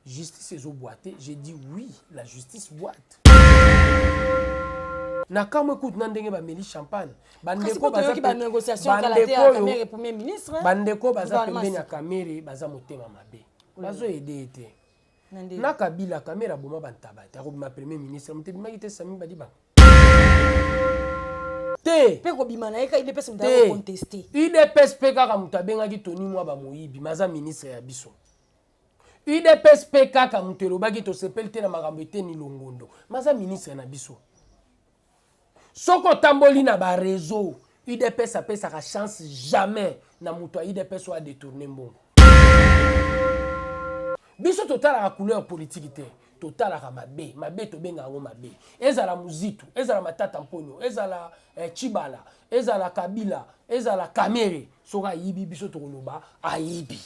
Justice ezo boite, j'ai dit oui, la justice boite. na kamwe kutu na ndenge bameli champagne bandeko baza pembeni ya kamere baza motema mabe bazoyede ye te na kabila kamera aboma bantaba te akobima premier ministre moto ebimaki te sami badibanga te mpe kobima na ye kaka idps moto akonteste idps mpe kaka moto abengaki toni mwa bamoyibi maza ministre ya biso udps mpe kaka moto elobaki tosepeli te na makambo eteni longondo maza ministre na biso Soki otamboli na ba reseaux, udps apesaka chance jamais na mutu ya udps oyo a detourner mbongo. Biso totalaka couleur politique te, totalaka mabe, mabe tobenga yango mabe. Ezala Muzitu, ezala Matata Mponyo, ezala eh, Tshibala, ezala Kabila, ezala Kamere, soki ayibi biso tokoloba ayibi.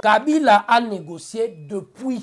Kabila a negocier depuis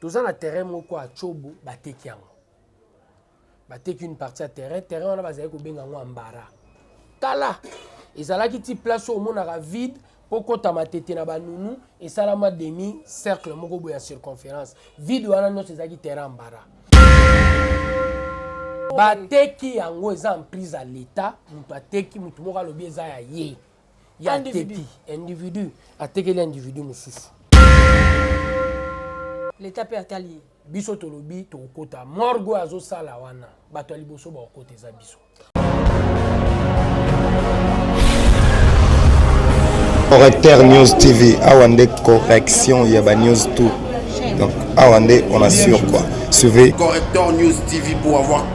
toza na terrain moko ya cobo bateki yango bateki une partie ya terrain terrain wana bazali kobenga yango ambara kala ezalaki ti place oyo omonaka vide mpo kota matete na banunu esalama demi cercle moko boye ya circonférence vide wana nyonso ezalaki terrain ambara bateki yango eza emprise ya leta moto ateki moto moko alobi eza ya ye ya teti individu atekeli individu mosusu leta mpe atali ye biso tolobi tokokota morgue oyo azosala wana bato ya liboso bakokota eza biso correcteur news tv awa nde correction ya banews tout donc awa nde on assure quoi suivez correcteur news tv pour avoir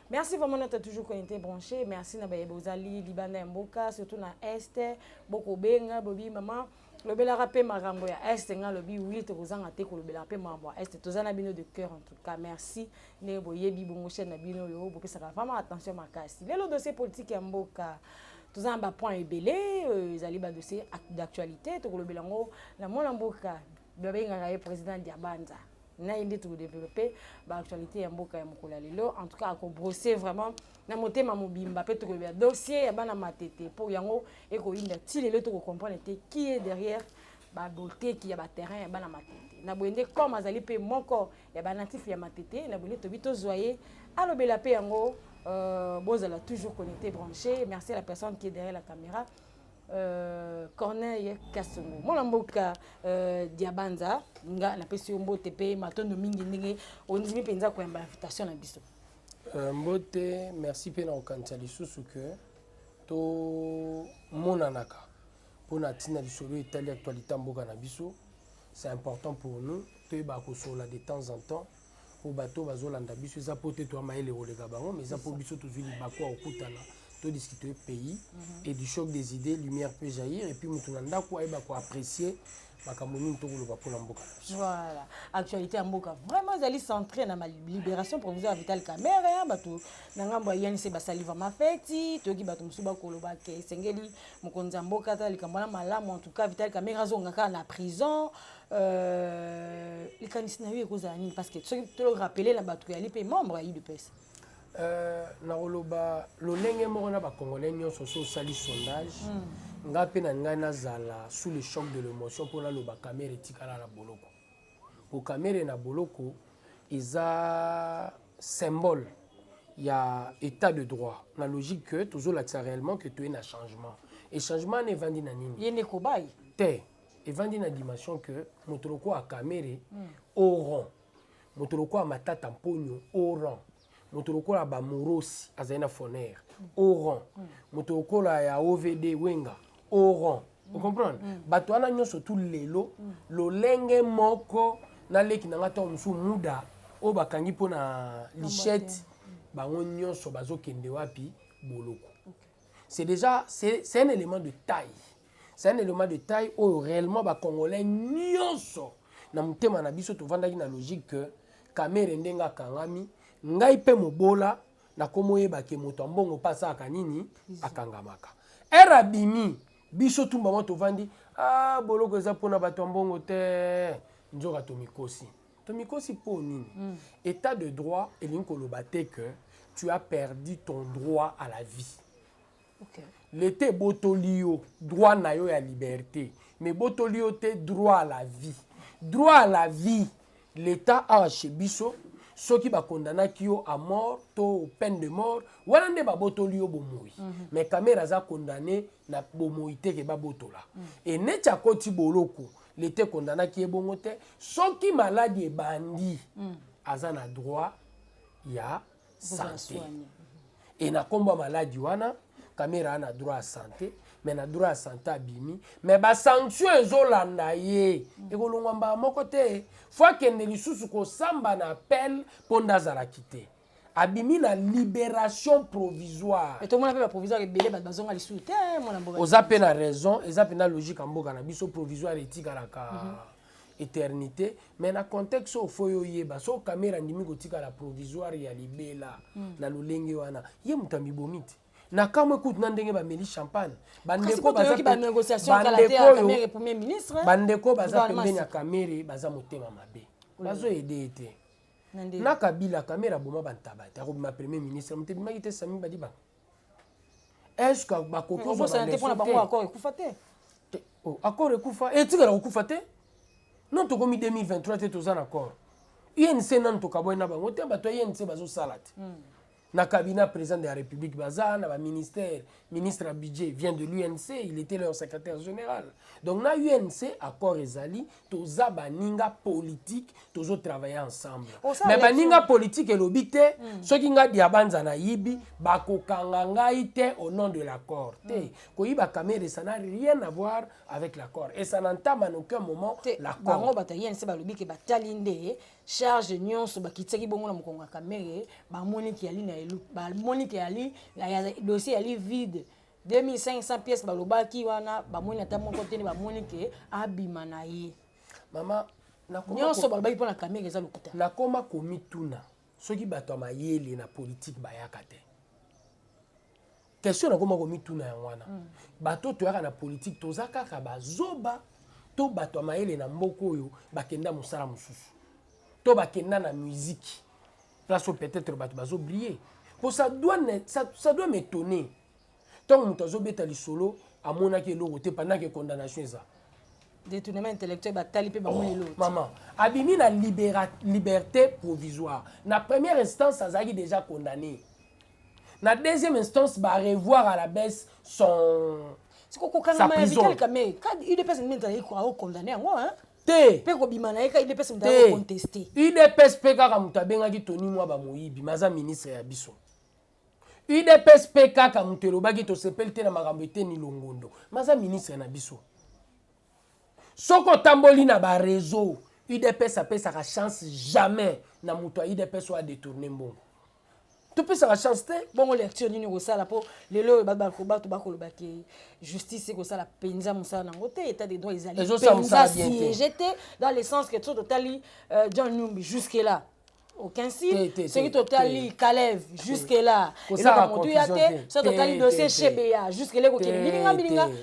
Merci vraiment notre toujours connecté branché. Merci na baye bozali libanda ya mboka surtout na est boko benga bobi maman lobelaka pe makambo ya est nga lobi oui tokozanga te kolobelaka pe makambo ya est toza na bino de cœur en tout cas merci ne boyebi bongo chaîne na bino yo bopesaka vraiment attention makasi lelo dossier politique ya mboka toza na bapoint ebele euh, ezali badossier d'actualité tokolobela yango na mwana mboka babengaka ye président diabanza na ye nde tokodeveloppe baactualité ya mboka ya mokolo ya lelo en tout cas akobrose vraiment na motema mobimba mpe tokoyeba dossier ya bana matete mpo yango ekoyinda ti lelo tokocomprendre te qui est derrière baboteki ya baterrain ya bana matete na boye nde comme azali mpe moko ya banatif ya matete na boye nde tobi tozwa ye alobela mpe yango euh, bozala toujours connecté branché merci à la personne qui est derrière la caméra Euh, corneille kasongo mwana mboka euh, diabanza nga napesi yo mbote mpe matondo mingi ndenge ondimi mpenza koyamba invitation na biso euh, mbote merci mpe na kokanisa lisusu ke tomonanaka mpo na ntina lisolo etali actualité ya mboka na biso c'est important pour nous toyebaka kosolola de temps en temps po bato oyo bazolanda biso eza po te toya mayele koleka bango mais eza po biso tozwi libaku ya kokutana todiscute pays mhm. et du choc des idées lumière peut jaillir et puis moto na ndako ayeba koapprécier makambo nini tokoloba mpo na mboka voilà actualité ya mboka vraiment ezali centré na libération provisoire ya vital camere hein, bato na ngambo ya inc basali vraimen feti toyoki bato mosusu bakoloba ke esengeli mokonzi ya mboka ata likambo wana malamu en tout cas vital camere azonga kaka na prison Euh, likanisi na yo ekozala nini parce que soki tolorapele na bato yali mpe membre ya udps euh, nakoloba lolenge moko na bacongolais nyonso so osali sondage mm. ngai mpe na ngai nazala sous le choc de l'émotion mpo naloba kamere etikala na boloko mpo kamere na boloko eza symbole ya état de droit na logique que tozolakisa réellement que toye na changement e changement wana evandi na nini ye nde kobai te evandi na dimension que moto lokola kamere mm. oran moto lokola matata mponyo oran moto lokola bamorosi azali na fonere mm. oran mm. moto lokola ya ovd wenga oran mm. ocomprendre mm. bato wana nyonso tu lelo mm. lolenge moko naleki na ngai ntango mosusu muda oyo bakangi mpo na lichette mm. bango nyonso bazokende wapi boloko okay. c'est déjà c'est un élément de taille C'est un élément de taille oyo réellement ba congolais nyonso na motema na biso tovandaki na logique que Kamere ndenge akangami ngai mpe mobola nakomoyeba ke moto ya mbongo mpe asalaka nini akangamaka ere abimi biso tumba mwa tovandi ah, boloko eza mpona bato ya mbongo te nzoka tomikosi tomikosi mpo nini mm. état de droit elingi koloba te que tu as perdu ton droit à la vie okay. leta ebotoli yo droit na yo ya liberté mais ebotoli yo te droit à la vie droit à la vie leta awa chez biso soki bakondanaki yo à mort to peine de mort wana nde babotoli yo bomoi mm -hmm. mais kamera aza condamné na bomoi te ke babotola mm -hmm. e neti akoti boloko leta ekondanaki ye bongo te soki maladi ebandi mm -hmm. aza na droit ya yeah. sante e na nkombo ya maladi wana kamera ana droit ya sante me na droit ya sante abimi me basanction ezolanda ye ekolongwa mbala moko te fo akende lisusu kosamba na appel mpo nde azalaki te abimi na liberation provisoire tomona mpe baprovisoire ebele bato bazonga lisusu te mwana mboka oza mpe na raison eza mpenza logique ya mboka na biso provisoire etikalaka mm -hmm. eternité mais na contexte oyo fo yo yeba so kamera andimi kotikala provisoire ya libela mm. na lolenge wana ye moto amibomi te na kamwe kutu na ndenge bameli champagne bandeko baza pembeni ya kamere baza motema mabe bazoyede ye te na kabila kamere aboma bantaba te akobima premier ministre moto ebimaki te sami badibanga est-ce que bakoki kozwa kozala te mpo na bango accord ekufa te Te- oh, accord ekufa etikala kokufa te non tokomi 2023 te toza na accord unc nanu tokabwai na bango te bato ya unc bazosala te na cabinet ya président de la république baza na baministère ministre ya budget vient de l'unc il était leur secrétaire général donc na unc accord ezali toza baninga politike tozo travaille ensemble me baninga politike elobi te mm. soki nga diabanza nayibi bakokanga ngai te au nom de l'accord te mm. koyiba kamere ça n'a rien à voir avec l'accord et ça n'entame en aucun moment l'accord bato ya inc balobi ke batali nde charge nyonso bakitisaki bongo na mokongo ya kamere bamoniki yali na elu bamoniki yali dossier yali vide 2500 pièces balobaki wana bamoni ata moko te nde bamoni ke abima na ye mama nyonso balobaki mpo na kamere eza lokuta nakoma komituna soki bato ya mayele na politike bayaka te question nakoma komituna yango wana mm. bato oyo toyaka na politike toza kaka bazoba to bato ya mayele na mboka oyo bakenda mosala mosusu to bakenda na miziki place oyo peut-être bato bazo briller po ça doit ça, ça doit m'étonner ntango moto azobeta lisolo amonaki eloko te pendant que condamnation eza détournement intellectuel batali mpe bamoni oh, eloko mama abimi na liberté provisoire na première instance azalaki déjà condamné na deuxième instance barevoir à la baisse son sa prison udps nde ezalaki condamné yango te mpe kobima na ye ka idps moto ayo conteste idps mpe kaka moto abengaki toni mwa bamoyibi maza ministre ya biso udps mpe kaka moto elobaki tosepeli te na makambo eteni longondo maza ministre na biso soki otamboli na bareseau udps apesaka chance jamais na moto ya udps oyo adetourne mbongo topesaka chance te bongo lecture nini okosala mpo lelo oyo bato bakoloba ke justice ekosala mpenza mosala nango te état de droit ezali mpenza siege te dans le sens que so totali euh, john numbi jusque là aucun signe soki totali kalev jusque là eloko motuya te so totali dossier shebeya jusque là ekokende bilinga bilinga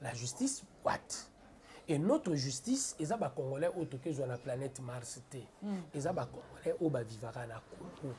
La justice what? Et notre justice eza ba congolais oyo tokezwa na planète Mars te. Mm. Eza ba congolais oyo ba vivaka na Congo.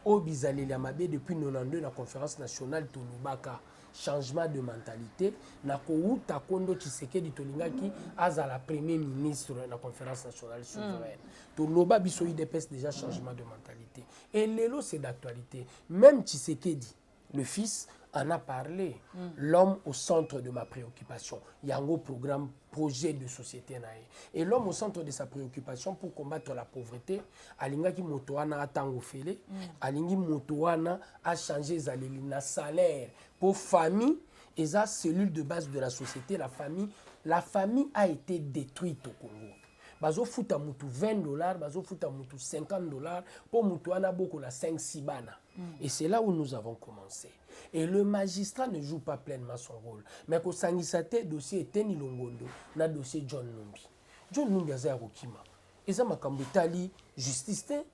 Oyo bizaleli ya mabe depuis 92 na conférence nationale tolobaka changement de mentalité na kowuta kondo Tshisekedi tolingaki azala premier ministre na conférence nationale mm. souveraine. Mm. Toloba biso IDPS déjà changement de mentalité. Et lelo c'est d'actualité. Même Tshisekedi le fils en a parlé mm. l'homme au centre de ma préoccupation yango programme projet de société na ye et l'homme au centre de sa préoccupation pour combattre la pauvreté alingaki moto wana atango fele mm. alingi moto wana achange ezaleli na salaire mpo famille eza cellule de base de la société la famille la famille a été détruite au congo bazofuta motu 20 dollars bazofuta motu 50 dollars mpo motu wana abokola 5 sibana Et c'est là où nous avons commencé. Et le magistrat ne joue pas pleinement son rôle. Mais ko sangisa te dossier Eteni Longondo na dossier John Numbi. John Numbi aza ya kokima. Eza makambo etali justice te.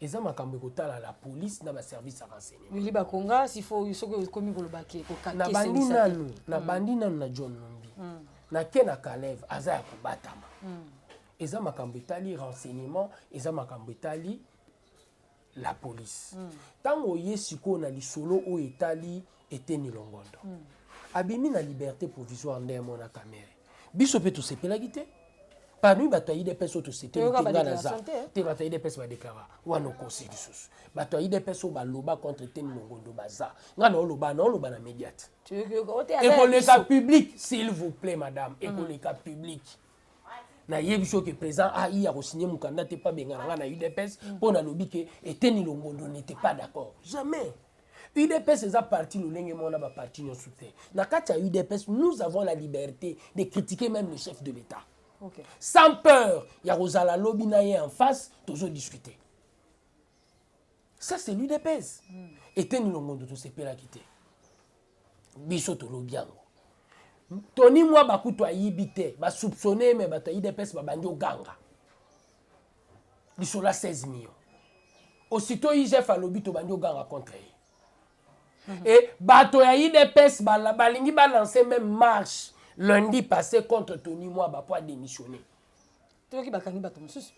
Eza makambo ekotala la police na ba service ya renseignement. Willy Bakonga s'il faut soki okomi koloba ke ko Na kakese bandi misate. nanu, na bandi nanu na John Numbi. Na ke na Kalev aza ya kobatama. Eza makambo etali renseignement, eza makambo etali la police ntango mm. oye sikoyo na lisolo oyo etali eteni longondo mm. abimi na liberté provisoire nde yamona kamere biso mpe tosepelaki te parmi bato ya idps oyo tosepeli te nga naza te bato ya idps badeklara wana okosi lisusu bato ya idps oyo baloba contre eteni longondo baza nga naoloba naoloba na médiate ekoleka public s'il vous plaît madame ekoleka mm. public nayebi soki président ai akosigne mokanda te mpo abengana ngai na udps mpo nalobi ke eteni longondo n'était pas d'accord jamais udps eza parti lolenge moko na baparti nyonso te na kati ya udps nous avons la liberté de critiquer même le chef de l'état okay. sans peur ya kozala lobi na ye en face tozodiscute ça c'est l'udps mm. eteni longondo tosepelaki te biso tolobi yango toni mwa bakutu ayibi te basoupçonne me bato ya udps babandi oganga lisolo ya 16 million osito igf alobi tobandi oganga contre ye mm -hmm. e bato ya udps balingi balancer même marche lundi passé contre toni mwaba mpo adémissionner toyoki bakangi bato mosusu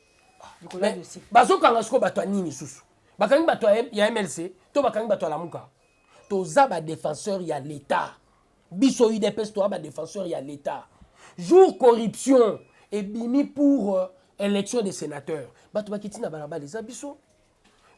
likolo ya dossier bazokanga sikoyo bato ya nini lisusu bakangi bato ya mlc to bakangi bato ya lamuka toza badefenseur ya leta biso udps toza badefenseur ya leta jour corruption ebimi pour euh, élection des sénateurs bato bakiti na balabala eza biso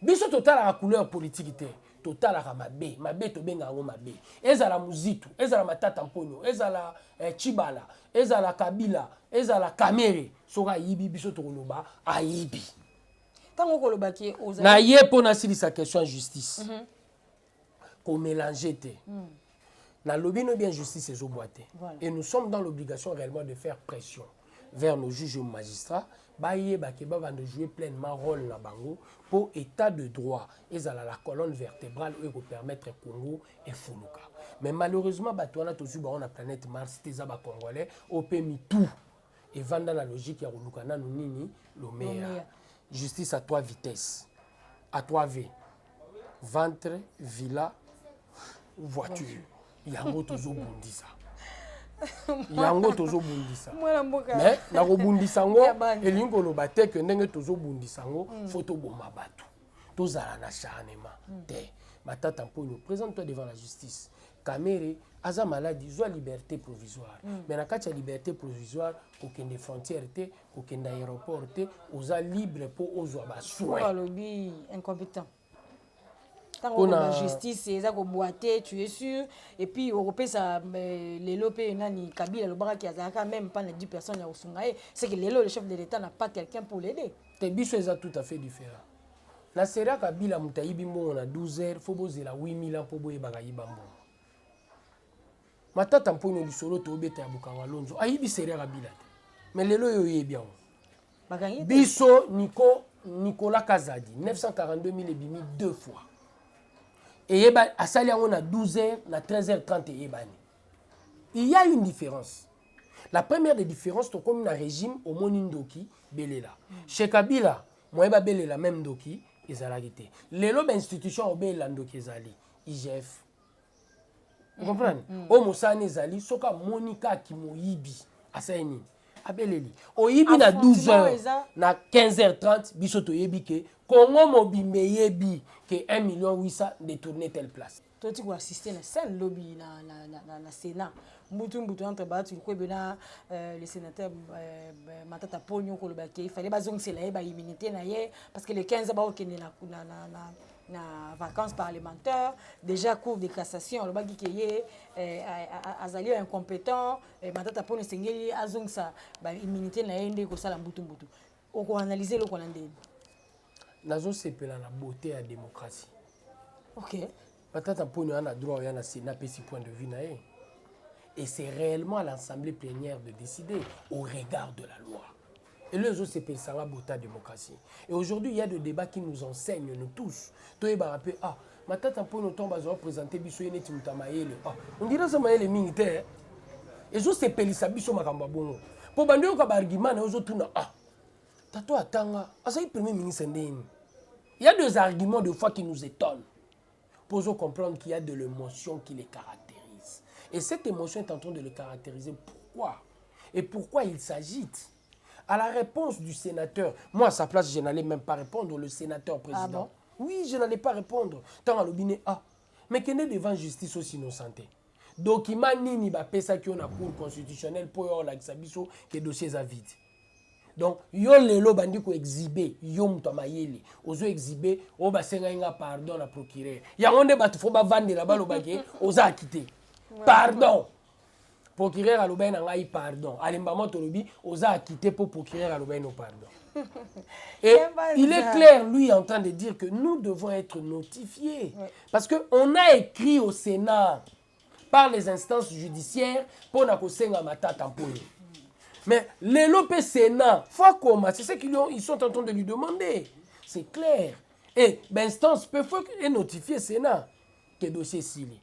biso totalaka couleur politiki te totalaka mabe mabe tobenga yango mabe ezala muzitu ezala matata mponyo ezala eh, chibala ezala kabila ezala kamere soki ayibi biso tokoloba ayibi ntango okoloba ke na ye mpo nasilisa question ya justice mm -hmm. ko mélanger te mm. na lobi no bien justice ezo boite voilà. et nous sommes dans l'obligation réellement de faire pression vers nos juges et magistrats bayeba ke babanda jouer pleinement rôle na bango mpo état de droit ezala la colonne vertébrale oyo ekopermettre congo efuluka mais malheureusement bato wana tozwi bango na planète mars te eza bacongolais oyo mpe mitu evanda na logique ya koluka nanu nini lomeya justice à trois vitesse à trois v ventre villa voiture yango tozobundisa yango tozobundisa mais nakobundisa yango elingi koloba te ke ndenge tozobundisa yango mm. fo toboma bato tozala na charnement mm. te matata mponyo présente toi devant la justice Kamere aza maladi zwa liberté provisoire mm. mais na kati ya liberté provisoire kokende frontière te kokende aéroport te oza libre mpo ozwa basoin alobi incompetent ntango na justice eza kobwate tu es sûr et puis okopesa euh, lelo mpe nani kabila alobakaki azalaka même pas na 10 personnes ya kosunga ye c'est que lelo le chef de l'état n'a pas quelqu'un pour l'aider te biso eza tout à fait différent Na sera kabila moto ayibi mbongo na 12 heures fo bozela 8000 ans mpo boyebaka yiba mbongo. Matata mponyo lisolo tobeta ya bokanga lonzo ayibi sera kabila te me lelo oyo oyebi yango biso niko nicolas kazadi 942000 ebimi deux fois eyeba asali yango na 12 heures na 13 heures 30 eyebani il y a une différence la première des différences tokomi na régime omoni ndoki belela chez kabila Moyen ba belela meme ndoki ezalaki te. Lelo ba institution o belela ndoki ezali. IGF. Vous comprenez? Mm. O mosani ezali soka monika ki moyibi. Asai nini? abeleli oyibi na 12 heures na 15 heures 30 biso toyebi ke congo mobimba eyebi ke 1 million 800 détourne telle place toti ko assister na scène lobi na, na, na, na, na Sénat mbutu mbutu entre Bahati Lukwebe na euh, le sénateur euh, euh Matata Ponyo koloba ke fallait bazongisela ye ba immunité na ye parce que le 15 bakokende na, na, na, na na vacances parlementaires déjà cour de cassation alobaki ke ye eh, azali incompétent eh, matata mpona esengeli azongisa baimmunité na ye nde kosala mbutumbutu oko analyser eloko na ndeni nazosepela na beauté ya démocratie ok batata mponi oya na droit oya na sena apesi point de vue na ye et c'est réellement à l'assemblée plénière de décider au regard de la loi elo ezosepelisa nga bota démocratie et aujourd'hui il y a de débat qui nous enseigne nous tous toyebaka mpe ah Matata Mpono ntango bazwa presente biso ye neti moto ya mayele ah, ondire aza mayele mingi te eh. ezosepelisa biso makambo ya bongo mpo bandi oyoka baargument na yo ozotuna ah tato atanga azalaki premier ministre ndeni il y a des arguments de fois qui nous étonnent mpo ozocomprendre qu'il y a de l'émotion qui les caractérise et cette émotion est en train de les caractériser pourquoi et pourquoi il s'agite À la réponse du sénateur, moi à sa place, je n'allais même pas répondre, le sénateur président. Ah bon? Oui, je n'allais pas répondre. Tant à l'obine, ah, mais qu'il est devant justice aussi innocenté. Document nini ba pesa ki na cour constitutionnelle pour yo la biso que dossiers à vide. Donc yo lelo bandi ko exhiber yo mutu mayele ozo exhiber o ba senga inga pardon na procureur. Yango nde batu fo ba vandela ba lobake oza acquitté. Pardon. procureur alobaki na ngai pardon alembama tolobi oza akite mpo procureur alobaki no pardon et il est clair lui en train de dire que nous devons être notifiés ouais. parce que on a écrit au sénat par les instances judiciaires mpo na kosenga matata mpo ye mais lelo mpe sénat faut akoma c'est ce qu'ils ils sont en train de lui demander c'est clair et bainstance mpe faut enotifie sénat ke dossier esili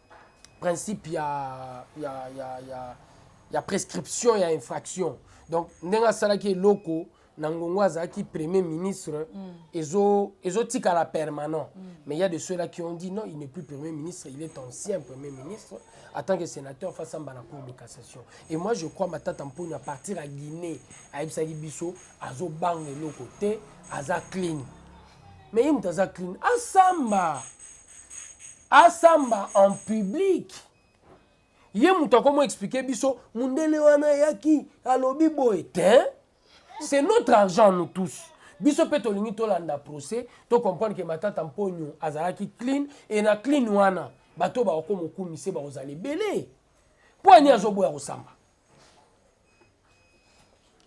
principe ya, ya, ya, ya, ya prescription ya infraction donc ndenge asalaki eloko na ngongo azalaki premier ministre mm. ezo ezotikala permanent mm. mais il y a de ceux-là qui ont dit non il n'est plus premier ministre il est ancien premier ministre en tant que sénateur face à la cour de cassation et moi je crois matata mponi à partir à guinée ayebisaki biso azobanga eloko te aza clean mais ye moto aza clean asamba Asamba en public. Ye mutu ako mo expliquer biso mundele wana ayaki alobi boye tein. C'est notre argent nous tous. Biso pe tolingi tolanda procès, to comprendre que Matata Mponyo azalaki clean et na clean wana bato oyo bakomokumise bakozala ebele. Mpo ya nini azoboya kosamba?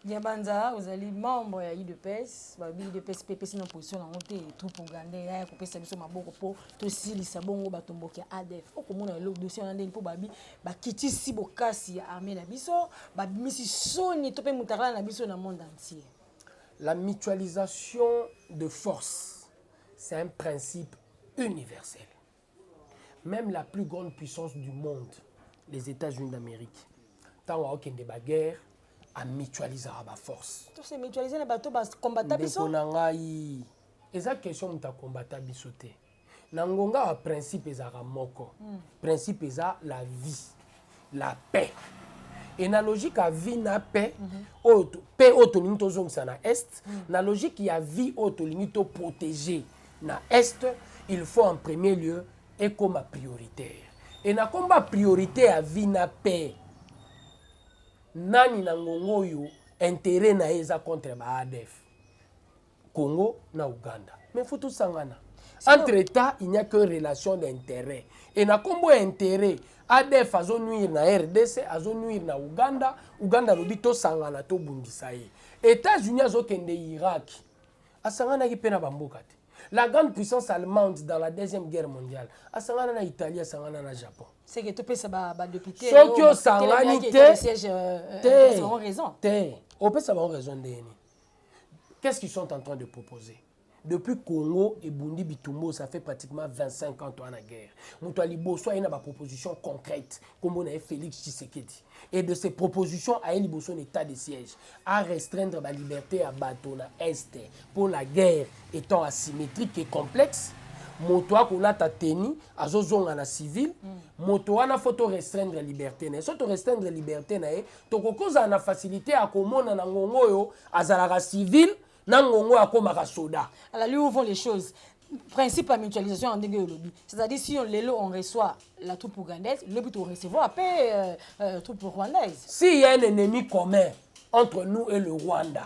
Diabanza ozali membre ya udps balobi udps mpe epesi na position yango te troupe ougandais yaya kopesa biso maboko mpo tosilisa bongo batomboki ya adf okomona elo dossier wana ndeni mpo babi bakitisi bokasi ya armée na biso babimisi soni to mpe motakala na biso na monde entier la mutualisation de force c'est un principe universel Même la plus grande puissance du monde, les États-Unis d'Amérique, ntango akokende baguerre amitualisaka baforce tose mutualise na bato bakombata biso ndeko na ngai eza question moto akombata biso te na ngonga ya principe ezalaka moko mm. principe eza la vie la paix et na logique ya vie na paix mm -hmm. oyo paix oyo tolingi tozongisa na est mm -hmm. na logique ya vie oyo tolingi toprotege na est il faut en premier lieu ekoma prioritaire e na komba priorité ya vie na paix nani na ngongo oyo intérêt na ye eza contre ba adf Congo na Ouganda. Mais faut tosangana. Entre États, il n'y a que relation d'intérêt. Et na combo intérêt, ADF azo nuire na RDC, azo nuire na Ouganda, Ouganda lobi to sangana to bundisa ye. États-Unis azo kende Irak. Asangana ki pena bamboka te. La grande puissance allemande dans la deuxième guerre mondiale, asangana na Italie, asangana na Japon. C'est que tu peux ba ba député. Soki osangani te. Te. Te. Opesa ba raison ndeni. Qu'est-ce qu'ils sont en train de proposer depuis congo ebundi bitumbo ça fait pratiquement 25 ans toa na guerre moto ya liboso aye na baproposition concrète nkombo na ye félix tshisekedi et de ces propositions aye liboso na état de siège a restreindre baliberté ya bato na est mpo la guerre étant asymétrique et complexe moto akolata teni azozonga na civile mm. moto wana fo to restreindre liberté na ye so to restreindre liberté na ye tokoki kozala na facilité ya komona na ngongo oyo azalaka civil na ngongo oyo akomaka soda alors lui où vont les choses principe ya mutualisation ya ndenge olobi c'est-à-dire si on, lelo on reçoit la troupe ougandaise lobi torecevoir mpe euh, euh, troupe rwandaise si y a un ennemi commun entre nous et le rwanda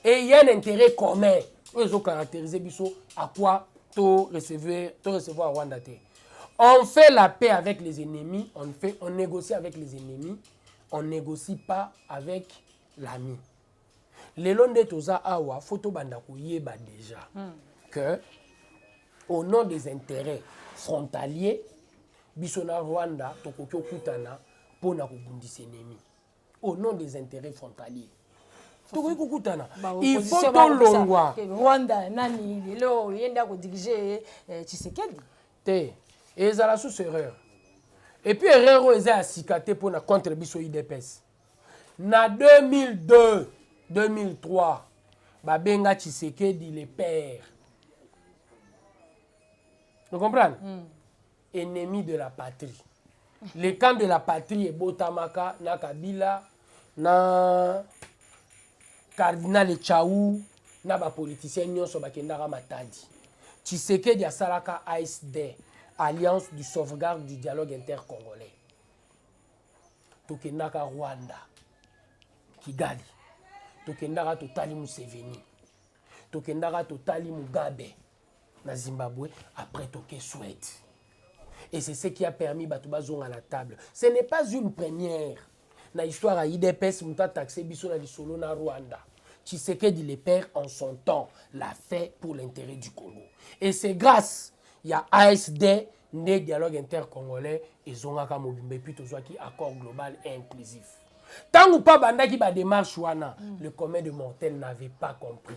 et y a un intérêt commun oyo ezocaractérise biso à quoi to recevoir, to recevoir rwanda te On fait la paix avec les ennemis, on, fait, on négocie avec les ennemis, on négocie pas avec l'ami. lelo nde toza awa fo tobanda koyeba déjà hmm. que au nom des intérêts frontaliers biso na rwanda tokoki okutana mpo na kobundisa enemi au nom des intérêts frontaliers tokoki kokutana il faut tolongwa rwanda nani lelo ye nde akodirige eh, tshisekedi te ezala susu erreur epuis erreur oyo eza ya sika te mpo na contre biso idps na 2002 2003 babenga tshisekedi le père ocomprendre mm. Ennemis de la patrie. Le camp de la patrie ebotamaka na Kabila na Cardinal Chau na ba politiciens nyonso bakendaka Matadi. Tshisekedi asalaka ASD, Alliance du sauvegarde du dialogue intercongolais. Tokendaka Rwanda, Kigali. Tokendaka totali Museveni. Tokendaka totali Mugabe. na Zimbabwe après toke Suède et c'est ce qui a permis bato bazonga na table ce n'est pas une première na histoire ya idps moto ataxe biso na lisolo na rwanda tshisekedi le père en son temps l'a fait pour l'intérêt du congo et c'est grâce ya asd nde dialogue intercongolais ezongaka mobimba epuis tozwaki accord global et inclusif ntango mpo abandaki bademarche wana mm. le commun de mortel n'avait pas compris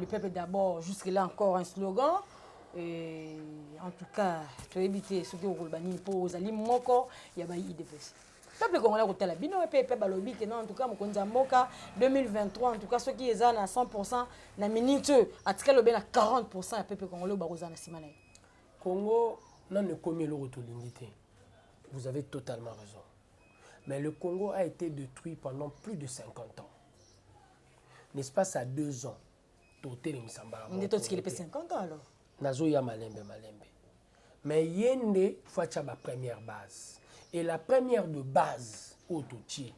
le peuple d'abord jusque là encore un slogan Et en tout cas toyebi te soki okoloba nini mpo ozali moko ya bayi idps peuple congolais akotala bino mpe mpe balobi te non en tout cas mokonzi ya mboka 2023 en tout cas soki eza na 100 pourcent na minute oyo atikali obe na 40 pourcent ya peuple congolais oyo bakozala na nsima na ye congo nano ekomi eloko tolingi te vous avez totalement raison mais le congo a été détruit pendant plus de 50 ans N'espace à deux ans, totelemisa mbala moko. Totikeli pe 50 ans alors. Nazoya malembe malembe. Mais ye nde faut atya ba première base. Et la première de base oyo totie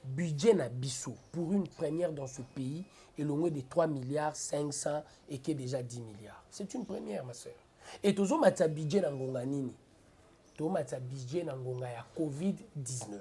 budget na biso pour une première dans ce pays elongwe de 3 milliards 500 et qui est déjà 10 milliards. C'est une première ma sœur. Et tozomatisa budget na ngonga nini? Tozomatisa budget na ngonga ya Covid-19.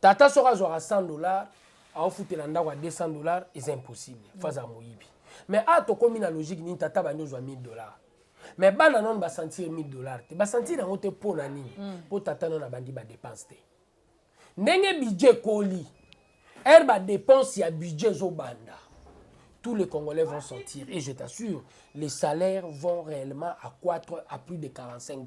tata soki azwaka 100 dollars aofutela ndako ya 200 dollars eza impossible fo azala moyibi mais a ah, tokomi na logique nini tata bandi ozwa 1000 dollars mais bana nano basentir 1000 dollars te basentir yango te mpo na nini mpo hmm. tata nano abandi badepense te ndenge budget ekoli ere badepense ya budget ezobanda tous les Congolais vont sortir. Et je t'assure, les salaires vont réellement accroître à plus de 45%.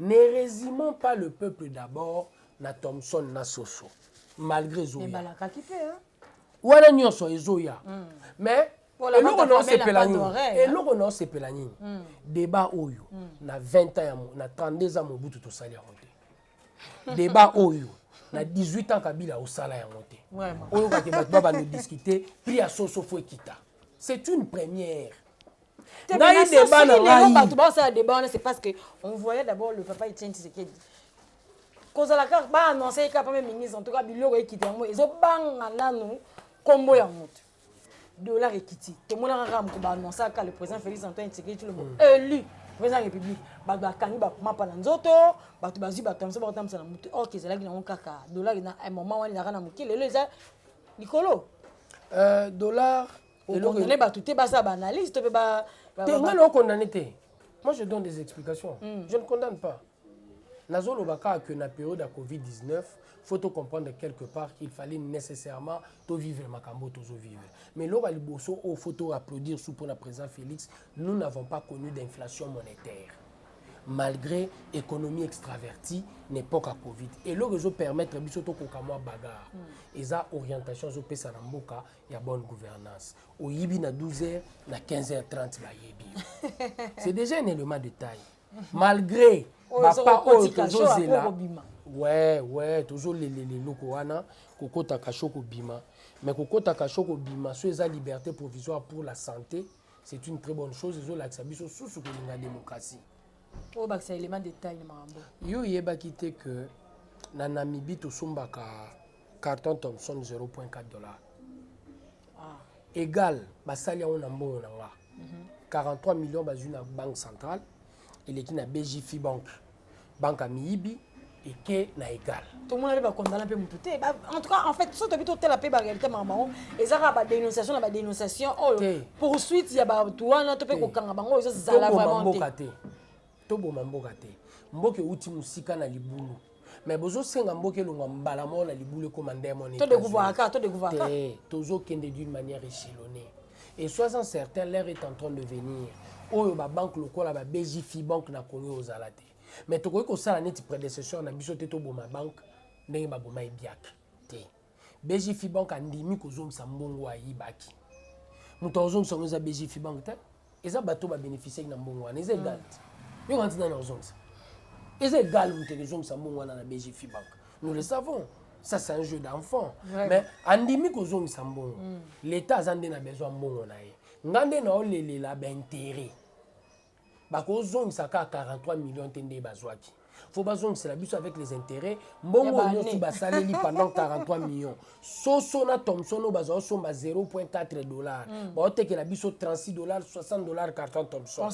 Ne resumons pas le peuple d'abord na Thomson na Soso malgré ezoya ebalakaki mpe hein? wana nyonso ezoya mm. mais eloko na osepela nini eloko na osepela nini deba oyo mm. na 20 ans ya na 32 ans mobutu tosali yango te deba oyo na 18 ans kabila osala yango te oyokaki bato ba bandodiscute prix ya soso fo ekita c'est une première ngai deba na ngai bato baosala deba wana c'est parce que on voyait d'abord le papa Etienne Tshisekedi kozala kaka baannonce ye kaka mpe ministre en tout cas biloko ekita yango ezobanga nanu nkombo ya moto dollar ekiti tomonaka kaka moto baannonsaka le président félix antoine tshisekedi tshilombo mm. élu président république bato bakangi bamapa na nzoto bato bazwi bato ya mosusu bakotambisa na motu orke ezalaki nango kaka dollar na eh, moment wana ezalaka na moke lelo eza likolo euh, dollar okondane bato te baza baanalyse to mpe ba te ngai na okondane te moi je donne des explications mm. je ne condamne pas nazoloba kaka que na période ya covid 19 faut to comprendre quelque part qu'il fallait nécessairement to vivre makambo oyo tozo vivre mais eloko ya liboso oyo faut to applaudir sous mpona président félix nous n'avons pas connu d'inflation monétaire malgré économie extravertie na époque ya covid eloko ezopermettre biso tokoka mwa bagarre mm. eza orientation ezopesa na mboka ya bonne gouvernance oyibi na 12 heures na 15 heures 30 bayebi c'est déjà un élément de taille malgré bapa oyo tozozela we we tozolelele eloko wana kokota kasho kobima mais kokota kasho kobima so eza liberté provisoire pour la santé c'est une très bonne chose ezolakisa biso susu kolinga démocratie oyo bakisa élément de taille na makambo yo oyebaki te que na namibie tosombaka carton thomson 0.4 dollar ah. égal basali yango na mbongo na nga 43 mhm. millions bazwi na banque centrale eleki na bjfi banque banque ya miyibi eke na égal tomona mpe bakondana mpe motu te en tout cas en fait so tobi totala mpe baréalité maka bango eza kaka badénonciation na badénonciation oyo oh, poursuite ya bato wana to mpe kokanga bango ezozala vraiment te toboma mboka te mboka euti mosika na libulu mais bozosenga mboka elongwa mbala moko na libulu ekoma nde moni tozokende d'une manière echelonnée et sois en certain l'air est en train de venir oyo babanke lokola ba bgfi banque na congo ozala te mais tokoki kosala neti prédécesseur na biso te toboma banque ndenge baboma ebiaka te BG Fibank andimi kozongisa mbongo ayibaki. Moto akozongisa yango eza BG Fibank te. Eza bato ba bénéficier na mbongo wana eza egal te. Yo kanti nani akozongisa? Eza egal moto ekozongisa mbongo wana na BG Fibank. Nous le savons. Ça c'est un jeu d'enfant. Ouais. Mais andimi kozongisa mbongo. Mm. L'État aza nde na besoin mbongo na ye. Nga nde na olelela ba intérêt. bakozongisa kaka 43 millions te nde bazwaki faut bazongisela biso avec les intérêts mbongo nyonso basaleli pendant 43 millions soso na thomson oyo bazwa osomba 0.4 dollar mm. baotekela biso 36 dollar 60 dollar carton thomson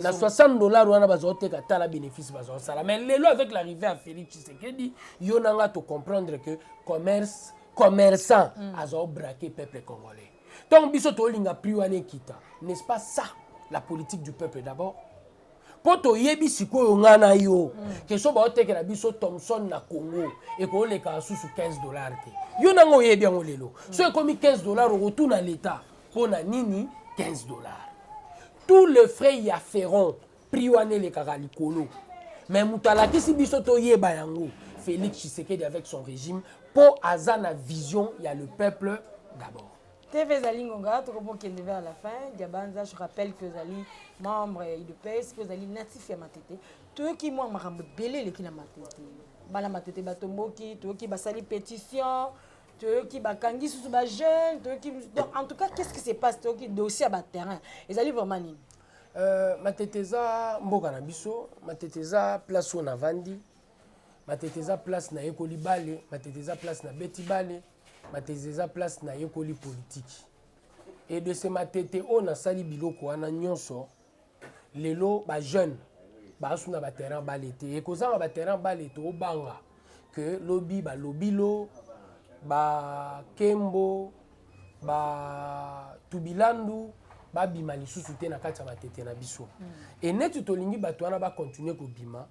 na 60 dollar wana bazwa oteka tala bénéfice bazwa osala mais lelo avec l'arrivée ya félix tshisekedi yo na nga tocomprendre que commerce commerçant mm. azwa obrake peuple congolais ntango biso tolinga prix wana ekita n'est-ce pas ça la politique du peuple d'abord mpo toyebi sikoyo ngai na yo kesho baotekela biso thomson na congo ekooleka susu 15 dollar te yo nanga oyebi yango lelo so ekomi 15 dollar okotuna leta mpo na nini 15 dollar tout le frais ya ferron prix wana elekaka likolo mais moto alakisi biso toyeba yango félix tshisekedi avec son régime mpo aza na vision ya le peuple d'abord TV ezali ngonga tokobokende vers la fin diabanza je rappelle que ozali membre ya udps mpe ozali natif ya matete toyoki mwa makambo ebele eleki na matete bana matete batomboki toyoki basali pétition toyoki bakangi susu bajeune toyoki donc en tout cas qu'est ce qui se passe toyoki dossier ya baterrain ezali vraiment nini Euh, matete eza mboka na biso matete eza place oyo navandi matete eza place nayekoli bale matete eza place nabeti bale matete eza place nayekoli politiki e de se matete oyo nasali biloko wana nyonso lelo bajeune baasuna baterrain bale te ekozanga baterrain bale toobanga que lobi ba lobilo ba kembo ba tubilandu babima lisusu te na kati ya matete na biso mm. e neti tolingi bato wana bakontinue kobima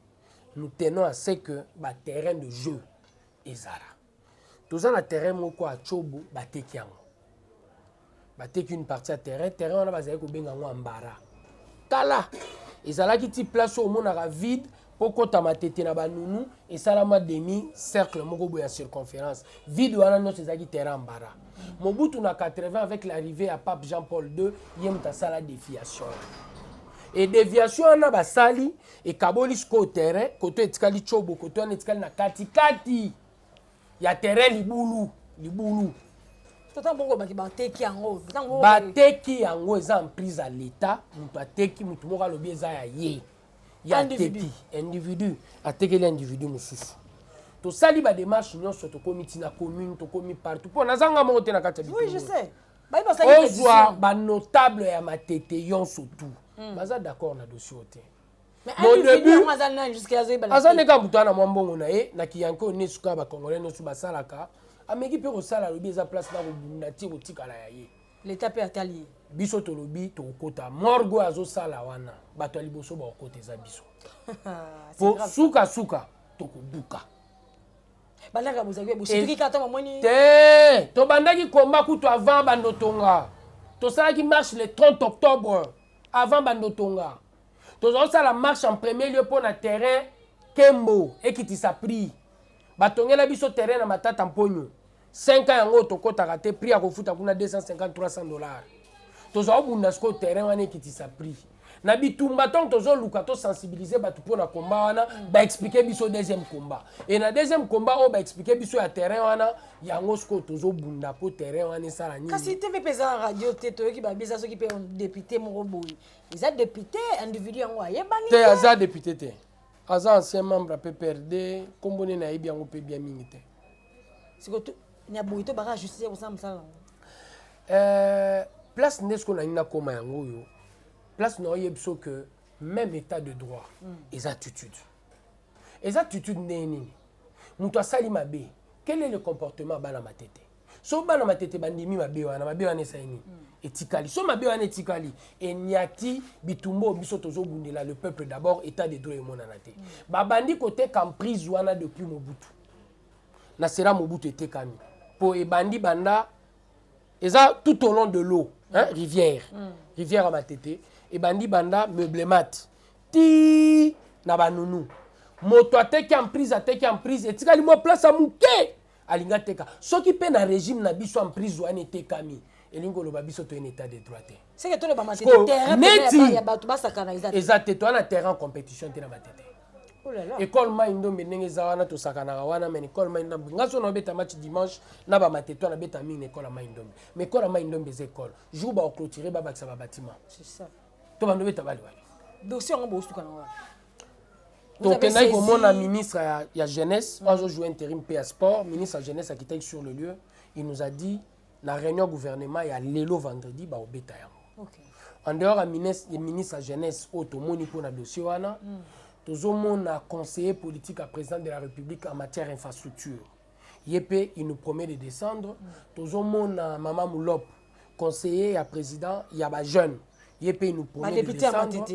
nous tenons à ce que baterrain de jeu ezala toza na terrain moko ya cobo bateki yango bateki une partie ya terrain terrain wana bazali kobenga yango ambara kala ezalaki ti place oyo omonaka vide mpo kota matete na banunu esalama demi cercle moko boye ya circonférence vide wana nyonso ezalaki terrain ambara mobutu na 80 avec l'arrivée ya pape jean paul 2 ye moto asala défiation e déviation wana basali ekaboli sikoyo terrain koto etikali cobo koto wana etikali na katikati ya terrain libulu libulu bateki yango eza emprise ya leta moto ateki moto moko alobi eza ya ye ya ateki individu atekeli individu mosusu tosali bademarche nyonso tokomi ntina commune tokomi partout mpo nazanga moko te na kati ya ozwa banotable ya matete yonso tout hmm. baza d'accord na dossier te aza ndenge moto wana mwa mbongo na ye na kiyanke oyo nesuka ya bacongolais nyonso basalaka ameki mpe kosala alobi eza place na kobunda ti kotikala ya ye leta mpe atali ye biso tolobi tokokota morgue oyo azosala wana bato ya liboso bakokota eza biso po sukasuka tokobuka balaka bozali bosituki kaka ntango amoni te tobandaki komba kutu avant bandotonga tosalaki marche le 30 octobre avant bandotonga tozosala marche en premier lieu mpo na terrain kembo ekitisa prix batongela biso terrain na matata mponyo 5 ans yango tokotaka te prix ya kofuta kuna 250 300 dollars tozwa obunda sikoyo terrain wana ekitisa prix na bitumba ntango tozoluka tosensibilize bato mpo na komba wana baexplike biso deuxième combat e na deuxième combat oyo baexplike biso ya terrain wana yango sikoyo tozobunda mpo terrain wana esala nini kasi te mpe mpeza na radio te toyoki babiza soki mpe depute moko boye eza depute individu yango ayebani te aza depute te aza ancien membre ya pprd nkombo nini ayebi yango mpe bia mingi te eh, place nde sikoyo nalingi nakoma yango oyo place na oyebi so que même état de droit mm. eza attitude eza attitude ndenge nini moto asali mabe quel est le comportement bana matete so bana matete bandimi mabe wana mabe wana esali nini mm. etikali so mabe wana etikali enyati bitumba oyo biso tozobundela le peuple d'abord état de droit emonana te mm. babandi koteka emprise wana depuis mobutu na sera mobutu etekami mpo ebandi banda eza tout au long de l'eau hein, mm. rivière mm. rivière ya matete ebandi banda meublemat ti na banunu moto ateki emprise ateki emprise etikali mwa place ya moke alingi ateka soki mpe na regime na biso emprise wana etekami elingi koloba biso toye na état de droit te seke toloba mateteeneti ya bato basakana eza te eza te toya na terrain compétition te na matete oh ekole mai ndombe ndenge eza wana tosakanaka wana mai ekole mai ndombe nga so naobeta match dimanche na bamatete wana beta mingi na ekole ya mai ndombe ma ekole ya mai ndombe eza ekole jour baoclotire babakisa babatima to bandobeta bali wana dossier yango bosuka na wana tokendaki komona ministre ya, ya jeunesse mm. azo jouer intérim mpe ya sport ministre ya jeunesse akitaki sur le lieu il nous a dit na réunion gouvernement ya lelo vendredi baobeta yango okay. en dehors ya ministre, ministre ya jeunesse oyo tomoni mpo na dossier wana mm. tozomona conseiller politique ya président de la république en matière infrastructure ye mpe il nous promet de descendre mm. tozomona mama mulop conseiller ya président ya ba jeune ye mpe nous promet de décembre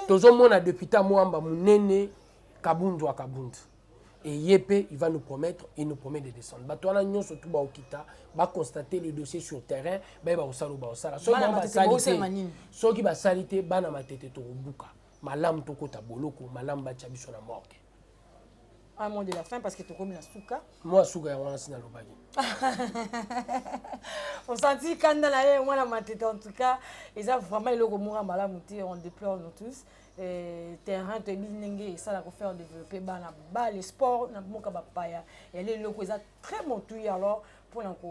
tozomona député amoamba monene kabundu ya kabundu et ye mpe il va nous promettre il nous promet de descendre bato wana nyonso tu baokita baconstate le dossier sur terrain bayeba kosala oyo baosala soki basali te bana matete tokobuka malamu tokota boloko malamu batya biso na morgue un mot de la fin parce que tokomi na suka mwa suka yango wana si nalobaki osanti kanda na ye mwana matete en tout cas eza vraiment eloko moko ya malamu te on déplore nous tous eh, terrain toyebi ndenge esala kofaire développer bana bale sport na mboka bapaya yali eloko eza très motuya alors mpona ko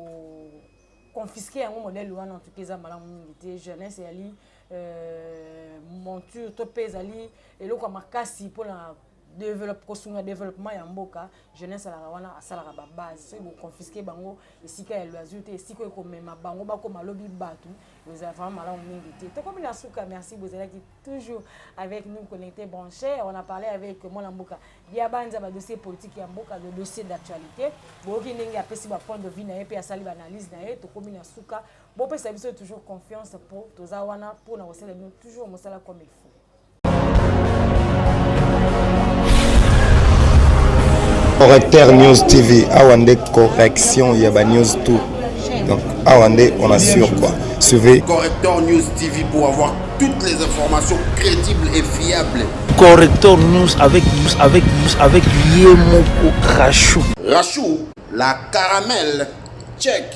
confisquer yango modèle wana en tout cas eza malamu mingi te jeunesse eyali euh, monture to mpe ezali eloko ya makasi mpona developpe kosunga développement ya mboka jeunesse alaka wana asalaka babase soki boconfiske bango esika ya loisir te esika oyo komema bango bakoma lobi bato ezala vraiment malamu mingi te tokomi na suka merci bozalaki toujours avec nous connecté branché on a parlé avec mwana mboka diabanza badossier politique ya mboka le dossier d'actualité boyoki ndenge apesi bapoint de vue na ye mpe asali baanalyse na ye tokomi na suka bopesa biso toujours confiance mpo toza wana mpo na kosala bino toujours mosala comme il faut correcteur news tv awa nde correction ya banews tout donc awa nde on assure quoi suivez correcteur news tv pour avoir toutes les informations crédibles et fiables correcteur news avec news avec news avec yemoko rachou rachou La caramel check.